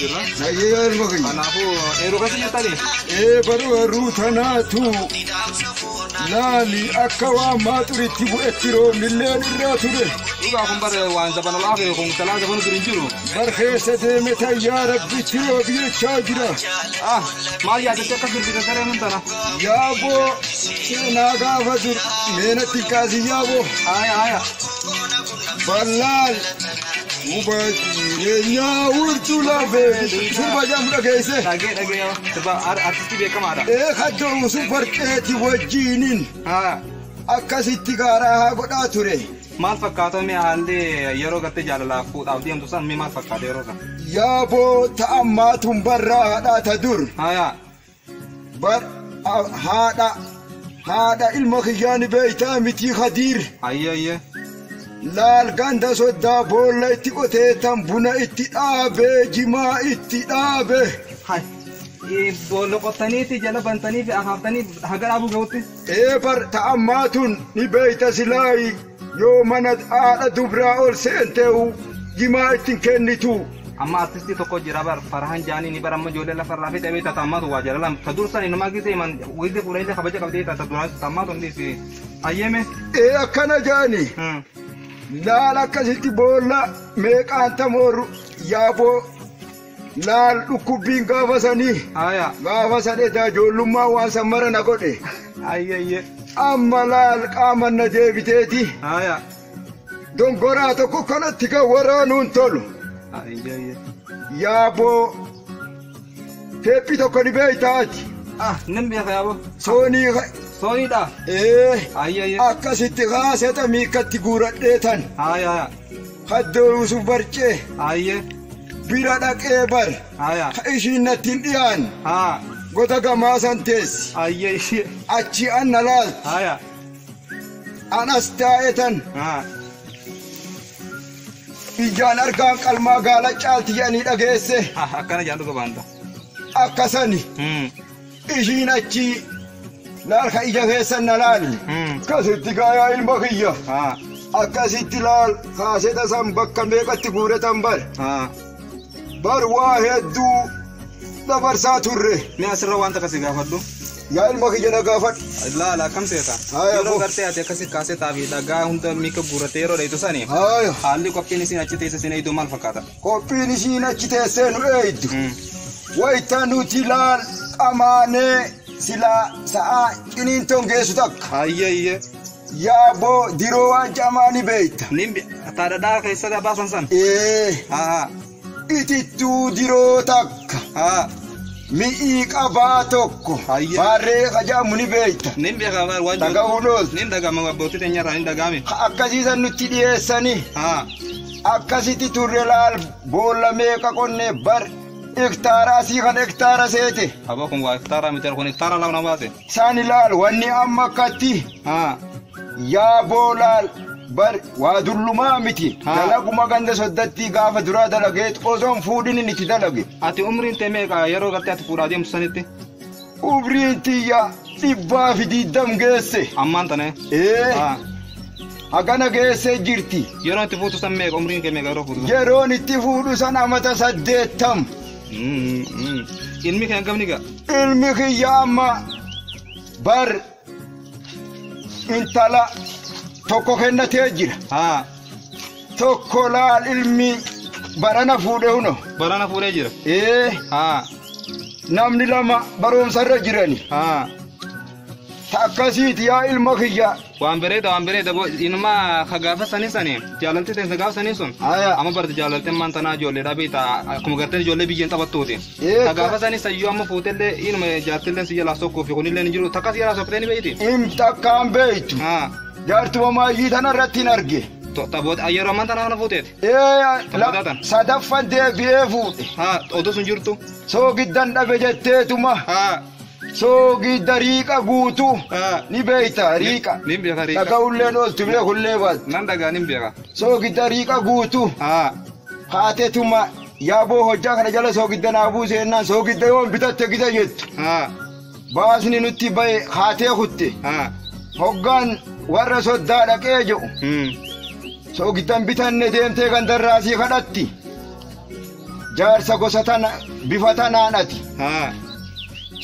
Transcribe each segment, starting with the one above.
jirra. Nagayyaa ilma kiyya. Kanaafuu eeruu keessa jirtanii? Ee baruu eeruu tanaatu laali akka waan maaxuritti bu'etti roobnillee irraa ture. Dhugaa kun bara waan zaban al'aafee kun talaa zabanu dur hin jiru. Bar keessa deeme tayyaa rabbitti roobi jechaa jira. Ah maal yaadattee akka sirbita saree mun tana? Yaaboo seenaa gaafa dur meenatti kaasii yaaboo. Haaya haaya. Ballaal muka jireenyaa urtuu lafee sirba jedhamu dhageesse. Dhagee dhagee yoo sirba ar- artistii beekamaadha. Ee kaddoo super ceeti wajjiinin Haa akkasitti gaaraa haa godhaa ture. maal fakkaata mee haalli yeroo gartee jaalalaaf fuudhaaf deemtu san mee maal fakkaata yeroo san? Yaaboo ta'ammaatuun barraadhaa ta dur. Haa yaa Bar haadha haadha ilma kiyyaa ni beeytaa mitii Kadiir. Ayyee ayyee. Laal ganda soddaa boolla itti qotee tan buna itti dhaabe jimaa itti dhaabe. Hay. Ee, Boolla qottaniiti jala bantanii fi akaaftanii haga dhaabuu ga'utti. Ee bar ta ammaa tun ni beeyta silaayi. Yoo mana haadha dubraa ol seenteehu jimaa itti hin kennituu. Amma artistii tokko jira bar Farahan Jaani ni bar amma ijoollee lafa irraa fixee beekta taammaatu waa jalalaan ta dursani namaa gisee man wiilde fuudhanillee kabaja qabdee ta duraan taammaatu hundi si ayyeeme. Ee akkana jaani laal akkasitti boolla meeqaan tamoorru yaaboo. Laal dhukkubbiin gaafa sanii. Aya. Gaafa san edaa ijoollummaan waan san mara na godhe. Ayyayye. Amma laal qaaman na deebiteeti. Aya. Dongoraa tokko kanatti kan waraanuun tolu. Ayyayye. Yaaboo. Teephii tokko ni beektaa ati. Ah, nan beeka yaaboo. Soonii ka- Sooniidha. ee Ayyayye. akkasitti kaaseta miikkatti guuradhee tan. Aya aya. Haddoo Yuusuf Barcee Ayyee. bira dhaqee bar Aya. ka ishiin natti hin dhiyaanne Haa. goda gamaa san teessi Ayyee ishee. achi an na laalti Aya. an as taa'e tan Haa. ijaan argaan qalmaa gaala caalti jedhanii dhageesse Haa akkana jaan dhuga baanta. akka sani Hmm. Ishiin achii Laalka ija keessan na laali. Kasitti kaa yaa ilma kiyya. Akkasitti laal kaaseta san bakka meeqatti guuretan bar. Bar waa hedduu dabarsaa turre. Mee asirra waan takka si gaafadhu. Yaa ilma kiyya na gaafadhu. Laala akkam seeta. Haaya, Yeroo abbo. gartee ati akkasi kaasetaa fi dhagaa hunda miika guurrattee yeroo dheeytu sani Haaya. haalli qophiin isiin achi teessa siin eeydu maal fakkaata? Qophiin ishiin achi teessee nu eeydu. Wayita nuti laal qamaanee silaa sa'aa ciniintoon geessu takka. Hayyee hayyee. Yaaboo diroo waan camaa ni beeyta. Nin taa dhadhaa keessatti abaasan san. Ee. Haa. Itittuu diroo takka. Haa. Mi'ii qabaa tokko. Hayyee. Baarree kajaamu ni beeyta. Nin beekaa baar waan Dhaga'uu loolta. Nin dhaga'ama abbootii teenyarraa nin dhaga'ame. Akkasiisan nutti dhiyeessanii. Haa. akkasiti turre laal boolla meeqa qonne bar iktaaraa sii kan iktaara seete Aboo kun waa iktaaraa miti kun iktaaraa lafa na baase. sani laal wanni amma akkatti Haa. yaa boolaal bar waa dullumaa miti Ha. dalaguma ganda soddatti gaafa duraa dalageet osoon fuudhinin itti dalage Ati umriin tee meeqa yeroo gartee ati fuudhaa deemtu sanitti? Ubriin tiyya dhibbaa fi diddam geesse. Ammaan tanee. Ee. Hagana geessee jirti. Yeroon itti fuutu san meeqa umriin kee meeqa yeroo fuutu san? Yeroon itti fuudhu san amata saddeettam. Ilmi kee hangam ni ga'a? Ilmi kiyya amma bar intala tokko kennatee jira. Haa. Tokko laal ilmi barana fuudhe huno. Barana fuudhee jira. Ee Haa. namni lama barumsa irra jirani. Haa. Ta akkasiiti yaa ilma kiyya. Waan bareeda waan bareeda boo inuma ka gaafa sanii sanii jaalalti teensa gaafa sanii sun Aya. amma barti jaalalti ammaan tanaa ijoollee dhabeeta akkuma gartee ijoollee biyyeen taphattuuti. Eekka. Gaafa sani sayyoo amma fuutellee inuma jaartillee si jalaa sokkuu fi kunillee hin jiru takka si jalaa sokkitee ni beeyti. Im takkaan beektu. Haa. Jaartuma maayyii tana irratti hin arge. To- Taphoota yeroo ammaan tana kana fuuteeti. Ee Taphataa la- tan. sadaffan deebi'ee fuudhe. Haa oduu sun jirtu. Soogiddan dhabe jetteetuma. Haa. Soogidda riiqa guutu. Haa. Ni beekta riiqa. Ni beeka riiqa. Dhaga'ulleen ooltu beekullee baatu. Nan dhagaa nin beeka. Soogidda riiqa guutu. Haa. Haatetuma Yaa boo hojjaa kana jala soogidda naa buuse jennaan soogidda yoon bitatte gita jettu. Haa. Baasni nutti ba'e kaatee kutte. Haa. Hoggaan warra soddaa dhaqee jedhu Hmm. soogiddan bitanne deemtee gandarraa sii kadhatti. Jaarsa gosa tana bifa tanaan ati. Haa.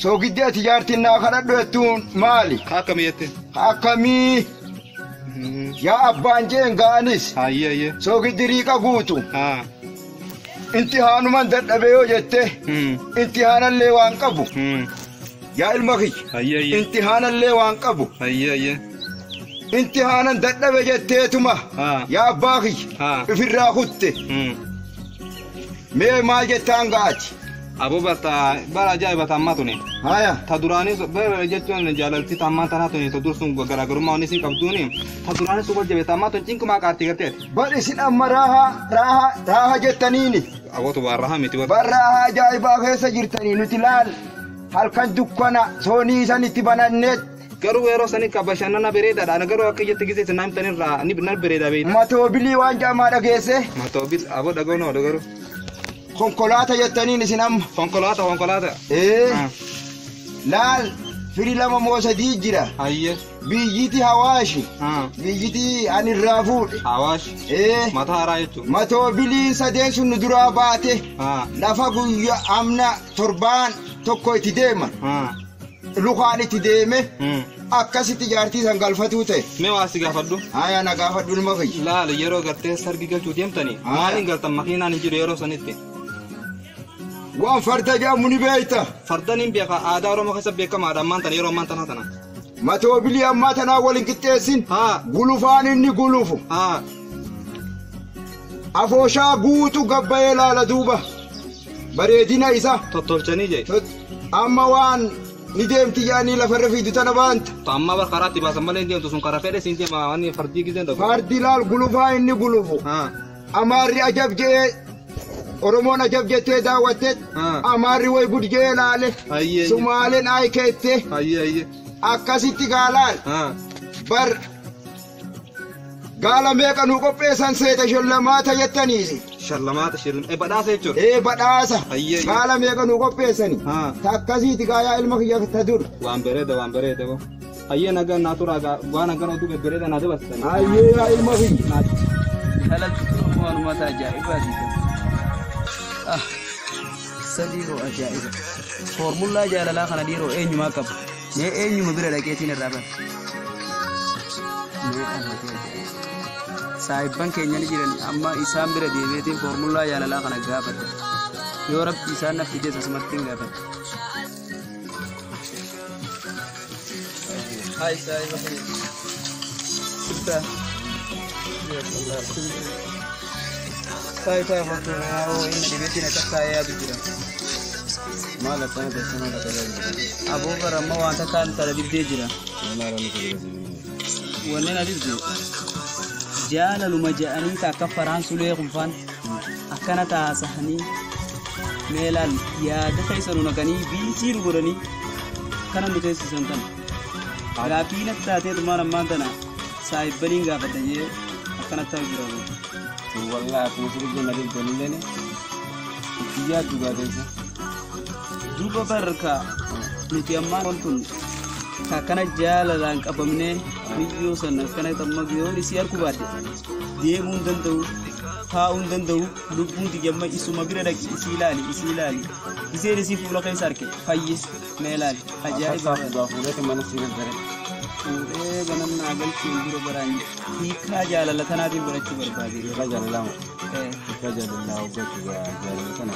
Soogiddi ati jaartiin naa kadhadhu jettuun maali? Ka akkamii jette? Ka akkamii? Hmm. Yaa abbaan jeen ga'anis Hayyee hayyee. soogiddi riiqa guutu. Haa. Inti haanuman dadhabee yoo jette inti haanallee waan qabu yaa ilma kiyya inti haanallee waan qabu inti haanan dadhabe jetteetuma yaa abbaa kiyya ifirraa kutte mee maal jettaan ga'ati. Aboo bata bara ajaa'iba tammaa tuni. Haya. Ta duraanii bara jechuun jaalalti tammaa tanaa tuni ta dursuun garaagarummaa wanni isin qabduuni ta duraanii sun wal jabeessa ammaa tun cinqumaa qaarti garteeti. Bar isin amma raaha, raaha, raaha jettaniini. Abootu waan raaha miti bar. Bar raaha ajaa'ibaa keessa jirtanii nuti laal halkan dukkana soonii isan itti bananneet. Garuu yeroo sanii ka bashannana bereedadha ani garuu akka iyyatti gizee isin naa himtan irraa ni nan bereeda beeyta. Matoobilii waan ja'amaa dhageessee? Matoobil aboo dhaga'uu na oole garuu. Konkolaata jettaniin isin amma. Konkolaata konkolaata. Ee Ah, laal firi lama moo sadii jira. Hayyee. Biyyiti Hawaashi. Biyyiti ani irraa fuudhe. Hawaash. Ee. Mataa haraa jechuun. Matoo biliin sadeen sun nu duraa baate. Lafa guyya amna torbaan tokko itti deeman. Lukaan itti deeme. Akkasitti jaartii san galfatuu ta'e. Mee waa si gaafadhu. Haya na gaafadhu ilma kiyya. Laal yeroo gartee sargi galchuu deemtanii. Maaliin galtan makiinaan hin jiru yeroo sanitti. Waan farda jedhamu ni beekta. Fardan hin beeka aadaa Oromoo keessa beekamaadha ammaan tana yeroo ammaan tanaa tana. Matoobilii ammaa tanaa wal hin qixxeessin. Haa. Gulufaan inni gulufu. Haa. Afooshaa guutu gabbayee laala duuba. Bareedina isa. Tottolchanii jee. Tot- Amma waan ni deemti yaanii lafarra fiidu tana baanta. To amma bar karaatti baasan malee hin deemtu sun karaa fedhe siin deema waan fardii gizeen dhabu. Fardi laal gulufaa inni gulufu. Haa. Amaarri ajab je'ee Oromoon ajab jettee daawwatte Ah. Amaarri way gud je'ee laale Ayyee, ayyee. Sumaaleen ayi keette Ayyee ayyee. akkasitti gaalaal Ah. bar gaala meeqa nuu qopheessan seeta shallamaata jettaniisi Shallamaata shillam. Eh badhaasa jechuudha. ee badhaasa Ayyee. gaala meeqa nuu qopheessani Ah. ta akkasiiti gaayaa ilma kiyya ta dur Waan bareeda waan bareeda boo. Hayyee nagaan naa turaa gaa dhugaa nagaan oduu bebbereeda naa dabarsitan. Hayyee yaa ilma kiyya. Intalalti kun waan uummata ajaa'ibaati. Ah, sadii hoo ajaa'iba. Foormullaa jaalalaa kana dhiiroo eenyumaa qaba? Mee eenyuma bira dhaqeetiin irraa bara? Mee amati ajaa'iba. Saahibban keenya ni jiran amma isaan bira deemeetiin foormullaa jaalalaa kana gaafadha. Yoo rabbi isaan naf fides asumattiin gaafadha. Maal akkana keessa maal akka jaallatani? Aboo bara amma wanta kaan tara dibdee jira. Maal akka nuti Wanneen adibde jaalaluma ja'anii ka akka faraan sulee kunfaan. akkana taasahanii mee laal yaada keessa nu naqanii biisii nu godhanii kana nu teessisan kana gaaffii natti taatee dhumaan ammaan tana saahibbaniin gaafadha jee akkana ta'u jira kun. Wallah akkuma sirrii jenna deemtanii illee itti yaaddu gaateessa. Duuba barka nuti ammaa wantun akkana jaalalaan qabamnee biyyoo sana akkana amma biyoon isii harku baadde. deemuu hin danda'u taa'uu hin danda'u lubbuun tiyya amma isuma bira dhaqi isii ilaali isii ilaali iseen isii fuula keessa arke fayye mee ilaali ajaa'iba dhugaa fuudhate mana sii gaggare fuudhee ganan naa galchuun dura baraan hiikaa jaalala tanaatiin barachuu barbaade irra jaalalama Eh, irra jaalalaa hoggachuudha jaalala kana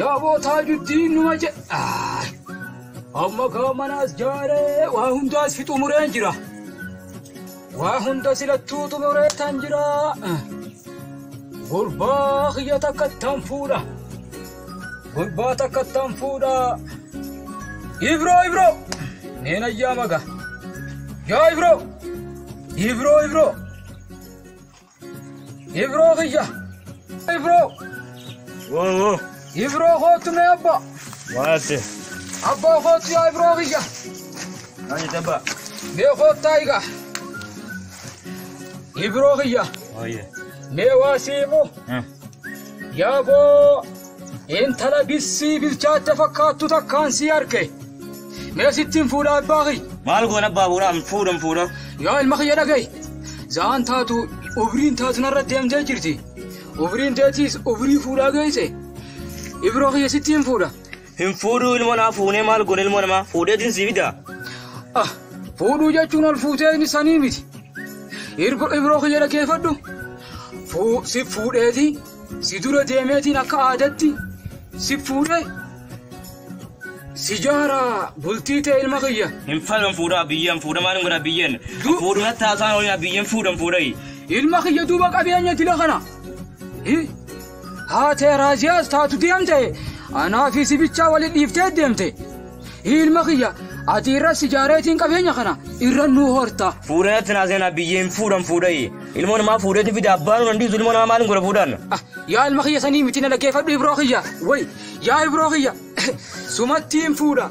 Yaa bootaa juddiin numa jedha. Amma kaa manaas jaaree waa hundaas fi xumureen jira. Waa hunda silattuu xumuree tan jira. Gurbaa kiyya takka tan fuudha. Gurbaa takkattaan fuudhaa. Ibroo ibroo. Neen ayyaa maga. Yaa ibroo. Ibroo ibroo. Ibroo kiyya. Ibroo. Woo woo. Ibroo kootu mee abbaa. Waate. Abbaa kootu yaa ibroo kiyya. Maal jette abbaa? Mee koottaa egaa. Ibroo kiyya. Ooyee. Mee waa siimu. Yaa boo! Intala bissii bilchaatte fakkaattu takkaan sii arge. Mee sittiin fuudha abbaa kiyya. Maal goona abbaa fuudha an fuudha an fuudha. Yaa ilma kiyya dhagahi. Zaan taatu ubriin taatu narra deemtee jirti. Ubriin teetiis ubrii fuudhaa geesse. Ibroo kiyya sittiin fuudha. Hin fuudhuu ilmoo namaa fuunee maal goone ilmoo namaa fuudheetiin sii fidaa. Ah, fuudhuu jechuun ol fuutee inni sanii miti. Irgo ibroo kiyya dhageeffadhu. Fuu- Si fuudheetii si dura deemeetiin akka aadatti si fuudhee si jaara bultii ta'e ilma kiyya. Hin fedhan fuudhaa biyyeen fuudha maaliin godhaa biyyeen. Du- Fuudhu natti haasaan oolina biyyeen fuudhan fuudhai. Ilma kiyya duuba qabeenya dila kana. Hi, Haatee Raaziyaas taatu deemte anaa fi sibichaa wali dhiiftee deemte. Ilma kiyya ati irra sijaareetiin qabeenya kana irra nuu horta. Fuudhan atti naa seenaa biyyeen fuudhan fuudhayi. Ilmoo namaa fuudheeti fide abbaan hin dhiisu ilmoo namaa maaliin godha fuudhan. Ah, Yaa ilma kiyya sanii miti na dhaggeeffadhu ibroo kiyya. Way yaa ibroo kiyya sumattiin fuudha.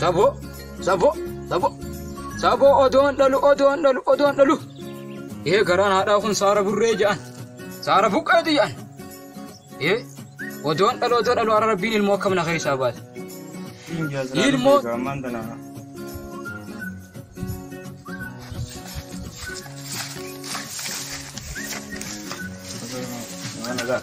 Saboo, saboo, saboo, saboo odoon dhalu, odoon dhalu, odoon dhalu. Ee garaan haadhaa kun saara burree ja'an, saara buqqeeti ja'an. Ee odoon dhalu, odoon dhalu har'a rabbiin ilmoo akkam na keessaa baate. Ilmoo. Mana dah.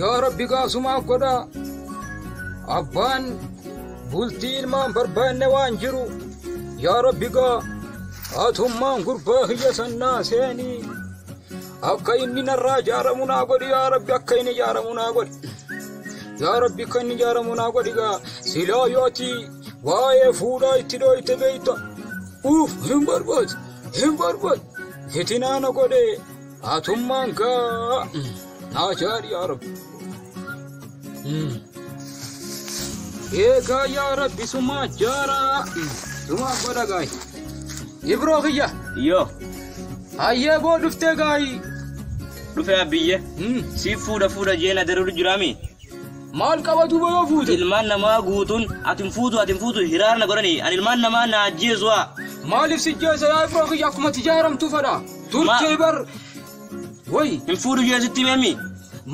yaa rabbi gaasumaa godhaa abbaan bultii ilmaan barbaanne waan jiru yaa rabbi gaa haatummaan gurbaa kiyya sannaa seenii akka inni narraa jaaramu naa godhi yaa rabbi akka inni jaaramu naa godhi yaa rabbi akka inni jaaramu naa godhi gaa silaa yooti waa'ee fuudhaa itti dhooyte beeyta uuf hin barbaadu hin barbaadu fitinaa na godhee Atummaan kaa naa jaari yaa rabbi. Eegaa yaa rabbi sumaa jaaraa sumaa godha gaayi. Ibroo kiyya Yoo hayyee boo dhuftee gaayi. dhufee abbiyye siif fuudha fuudha jeen adaruu jiraami. Maal qaba duuba yoo fuute? Ilmaan namaa guutuun ati hin fuutu ati hin fuutu hiraarna godhani ani ilmaan namaa na ajjeesu'a. Maaliif si jeesa yaa Ibroo kiyya akkuma tijaaramtu fadha. Turtee bar. Woy. Hin fuudhu jee sitti meemi.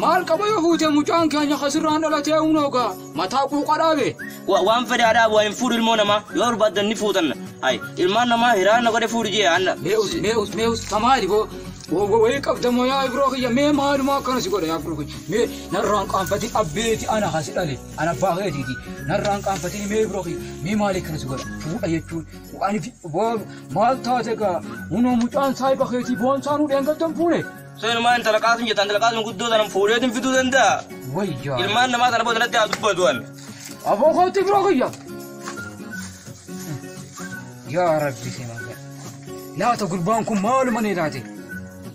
Maal qaba yoo fuutee mucaan keenya kasirraan dhalatee unoogaa mataa quuqa dhaabe. Wa- Waan fedhe haa dhaabu hin fuudhu ilmoo namaa yoo barbaaddan ni fuutan. Ay ilmaan namaa hiraa na godhe fuudhu jee anna. Mee us mee us mee us samaali boo. Wayii qabda moo yaa biroo kiyya mee maaluma akkana si godha yaa biroo kiyya mee narraan qaanfatiin abbeeti ana kasi dhale ana abbaa keetiiti narraan qaanfatiin mee biroo kiyya mee maali akkana si godha fuudha jechuun Anifi boon maal taate gaa hunoo mucaan saahiba keetii boon saanuu dheengaddan fuune. Seenumaa intala qaasim jettaan intala qaasim guddoo sanan fuudheetiin fiduu danda'a. Wayyaa. Ilmaan namaa sana booda natti haa dubbatu an. Aboo kootti biroo kiyya. Yaa rabbi si magaa. Laata gurbaan kun maaluma nee laate?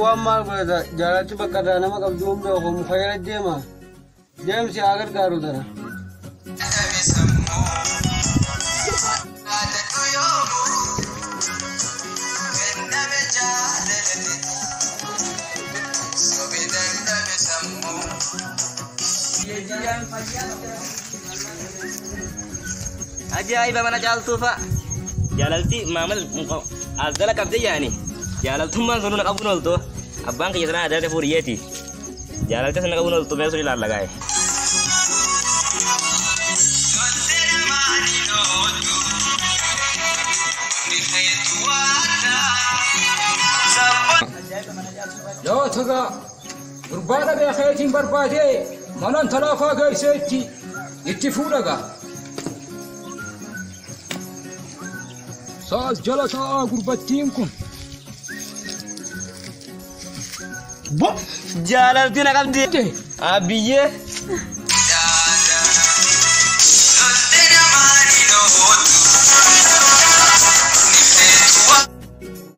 Waan maal godhata jaalatti bakka irraa nama qabdu hin beeku muka jala deema deemsi haa gargaaru tana. Thank you. Ajaa'iba mana caaltuu fa'a. Jaalalti maamil as jala qabdee yaani. Jaalaltummaan sun na qabuun ooltu. Abbaan kiyya sanaa adda fuudhi yeeti. Jaalalti sun na qabuun ooltu mee sun ilaalla gaa'e. Yoo tugaa. Gurbaa dhabee keetiin barbaadee mana intalaa faa geessee itti itti fuudha gaa. Saas jala taa'aa gurbattiin kun. Bo! Jaalalti na qabdi. Ate Abiyyee. Antena Marino,